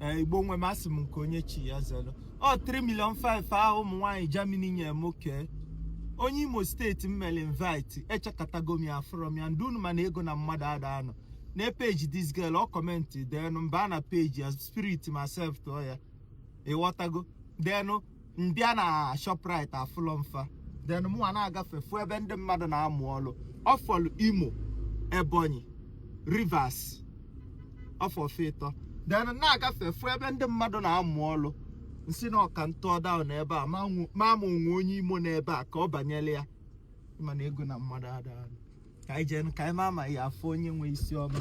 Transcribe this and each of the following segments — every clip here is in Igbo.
Eh, Igbo nwe m asị m nke onye chi ya zelu ọ 3 million 5 ahụ ụmụ nwaanyị Germany nye m kee onye Imo steeti m mere invite echekatago m ya afụrọ m ya ndị unu ma na ego na mmadụ ada anọ na peji this girl ọ commentị then m baa na peji ya spirit m acceptụọ ya ịghọtago then m bịa na Shoprite afụrọ m fa then mụnwa na-agafe fụ ebe ndị mmadụ na-amụ ọrụ ọ fọlụ Imo Ebonyi Rivers ọ fọ fa ịtọ then na-agafe fụ ebe ndị mmadụ na-amụ ọrụ m sị na ọ ka m tụọ down ebe a ma ma o nwe onye Imo n'ebe a ka ọ banyere ya ma na ego na mmadụ ada anọ ka anyị jee ka anyị ma ma a ya-afụ onye nwe isi ọma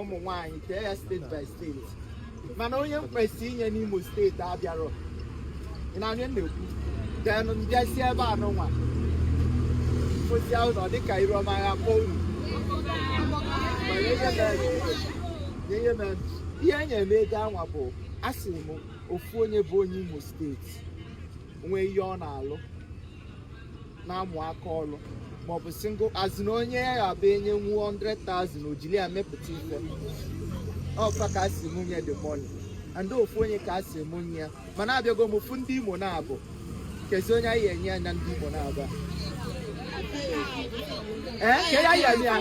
ụmụ nwaanyị kee ya steeti by steeti mana onye m kwesị inye n'Imo steeti abịarọ ị na-anụ m na-ekwu then m bịazi ebe anụnwa o si ahụ na ọ dịka iru ọma ya kpọọ unu ma ihe ihe e nyere m ego anwa bụ a sị m ofu onye bụ onye Imo steeti nwee ihe ọ na-alụ na-amụ aka ọrụ maọbụ single as in onye ya ga-abụ e nye nwu 100,000 o jili ya mepụta ife ọkwa ka a sị m nye the money and ofu onye ka a sị m nye ya mana abịago m fụ ndị Imo naabọ kezi onye anyị enye ya na ndị Imo naabọ a? ee ka a ya-eme ya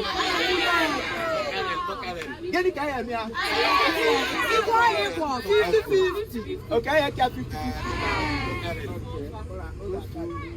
gịnị ka a ya-eme ya o kee ya ka 50